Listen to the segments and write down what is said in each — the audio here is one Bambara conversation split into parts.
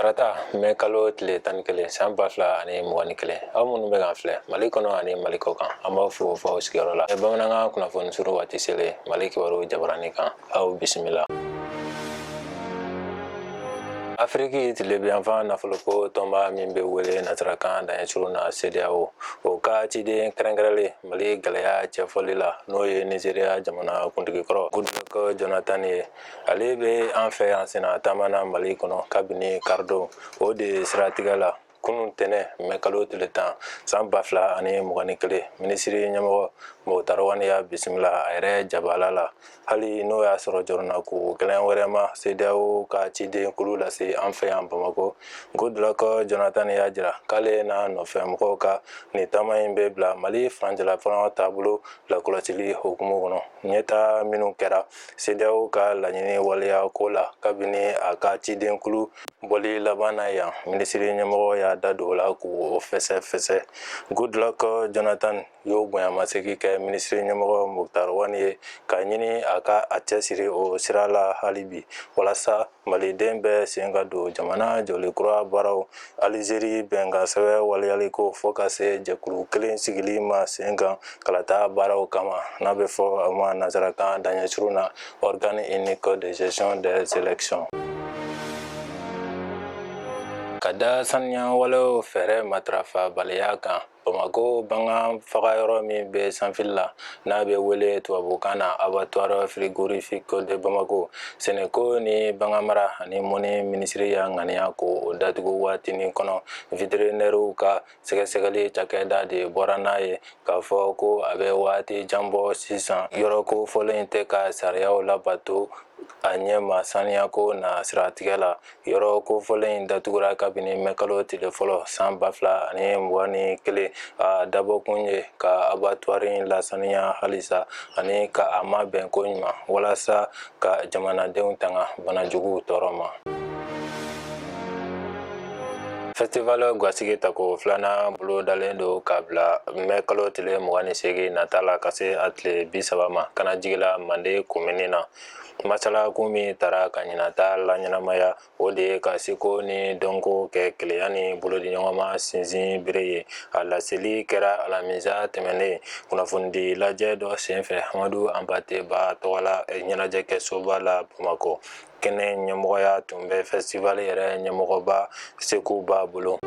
tarata mɛ kalo tile tan ni kelen san ba fila ani mugan ni kelen aw minnu bɛ k'an filɛ mali kɔnɔ ani mali kɔ kan an b'aw fo fɔ aw sigiyɔrɔ la bamanankan kunnafoni suru waati selen mali kibaru jabarani kan aw bisimila afiriki tilebiyanfan nafoloko tɔnba min bɛ wele nasarakan daɲɛsurun na CEDEAO o ka ciden kɛrɛnkɛrɛnlen Mali gɛlɛya cɛfɔli la n'o ye Nizeriya jamana kuntigi kɔrɔ Goodluck Jonathan ye ale bɛ an fɛ yan senna taama na mali kɔnɔ kabini karidon o de siratigɛ la kunun tɛnɛn mɛ kalo tile tan san ba fila ani mugan ni kelen minisiri ɲɛmɔgɔ Mukutari Wani y'a bisimila a yɛrɛ jabala la hali n'o y'a sɔrɔ jɔrɔnanko gɛlɛn wɛrɛ ma CEDEAO ka ciden kulu lase an fɛ yan Bamakɔ Goodluck Jonathan y'a jira k'ale n'a nɔfɛ mɔgɔw ka nin taama in bɛ bila Mali furancɛlafanga taabolo lakɔlɔsili hukumu kɔnɔ ɲɛtaa minnu kɛra CEDEAO ka laɲini waleya ko la kabini a ka ciden kulu bɔli laban na yan minisiri ɲɛmɔgɔ y'a da don o la k'o fɛsɛfɛsɛ Goodluck Jonathan y'o bonyamasegin kɛ minisiri ɲɛmɔgɔ Mukutari Wani ye k'a ɲini a ka a cɛsiri o sira la hali bi walasa Maliden bɛɛ sen ka don jamana jɔli kura baaraw Alizeri bɛnkansɛbɛn waleyaliko fo ka se jɛkulu kelen sigili ma sen kan kalata baaraw kama n'a bɛ fɔ a ma nansarakan daɲɛsurun na Organe unique de gestion des élections. Ka da saniya walew fɛɛrɛ matarafabaliya kan, Bamakɔ bagan faga yɔrɔ min bɛ Sanfili la n'a bɛ wele tubabu kan na abattoir frigorifique de Bamako sɛnɛko ni baganmara ani mɔnni minisiri y'a ŋaniya k'o datugu waatinin kɔnɔ veterinɛriw ka sɛgɛsɛgɛli cakɛda de bɔra n'a ye k'a fɔ ko a bɛ waati jan bɔ sisan yɔrɔ kofɔlen in tɛ ka sariyaw labato a ɲɛ ma saniyako na siratigɛ la yɔrɔ kofɔlen in datugura kabini mɛ kalo tile fɔlɔ san ba fila ani mugan ni kelen a dabɔkun ye ka abatuwari in lasaniya halisa ani ka a mabɛn ko ɲuman walasa ka jamanadenw tanga banajuguw tɔɔrɔ ma festival gwasigi tako filanan bolo dalen don k'a bila mɛ kalo tile mugan ni seegin nata la ka se a tile bi saba ma Kanajigila mande komini na masalakun min tara ka ɲinan ta laɲɛnamaya o de ye ka seko ni dɔnko kɛ kelenya ni bolodiɲɔgɔnma sinsin bere ye a laseli kɛra alamisa tɛmɛnen kunnafonidi lajɛ dɔ senfɛ hamadu Anpate Ba tɔgɔ la ɲɛnajɛkɛsoba la bamakɔ kɛnɛ ɲɛmɔgɔya tun bɛ festival yɛrɛ ɲɛmɔgɔba Seku Ba bolo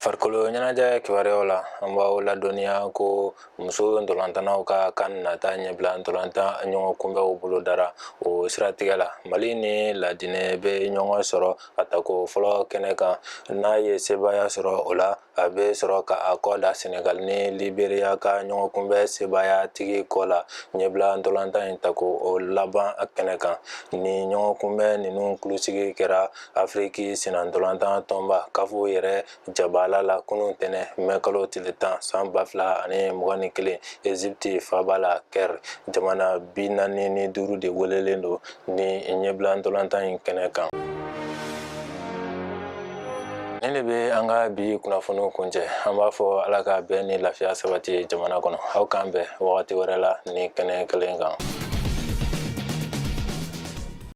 farikolo ɲɛnajɛ kibaruyaw la an b'aw ladɔnniya ko muso ntolantannaw ka kan nata ɲɛbila ntolantan ɲɔgɔn kunbɛnw bolo dara o siratigɛ la mali ni laginɛ bɛ ɲɔgɔn sɔrɔ a tako fɔlɔ kɛnɛ kan n'a ye sebaaya sɔrɔ o la a bɛ sɔrɔ ka a kɔ da senegali ni liberiya ka ɲɔgɔn kunbɛn sebaaya tigi kɔ la ɲɛbila ntolantan in tako laban kɛnɛ kan ni ɲɔgɔn kunbɛn ninnu kulusigi kɛra afiriki senna ntolantan tɔnba kafu yɛrɛ jabala la kunun tɛnɛ mɛ kalo tile tan san ba fila ani mugan ni kelen ezipti faaba la kɛri jamana bi naani ni duuru de welelen don ni ɲɛbila ntolantan in kɛnɛ kan nin de bɛ an ka bi kunnafoniw kuncɛ an b'a fɔ ala ka bɛn ni lafiya sabati jamana kɔnɔ aw k'an bɛn wagati wɛrɛ la ni kɛnɛ kelen kan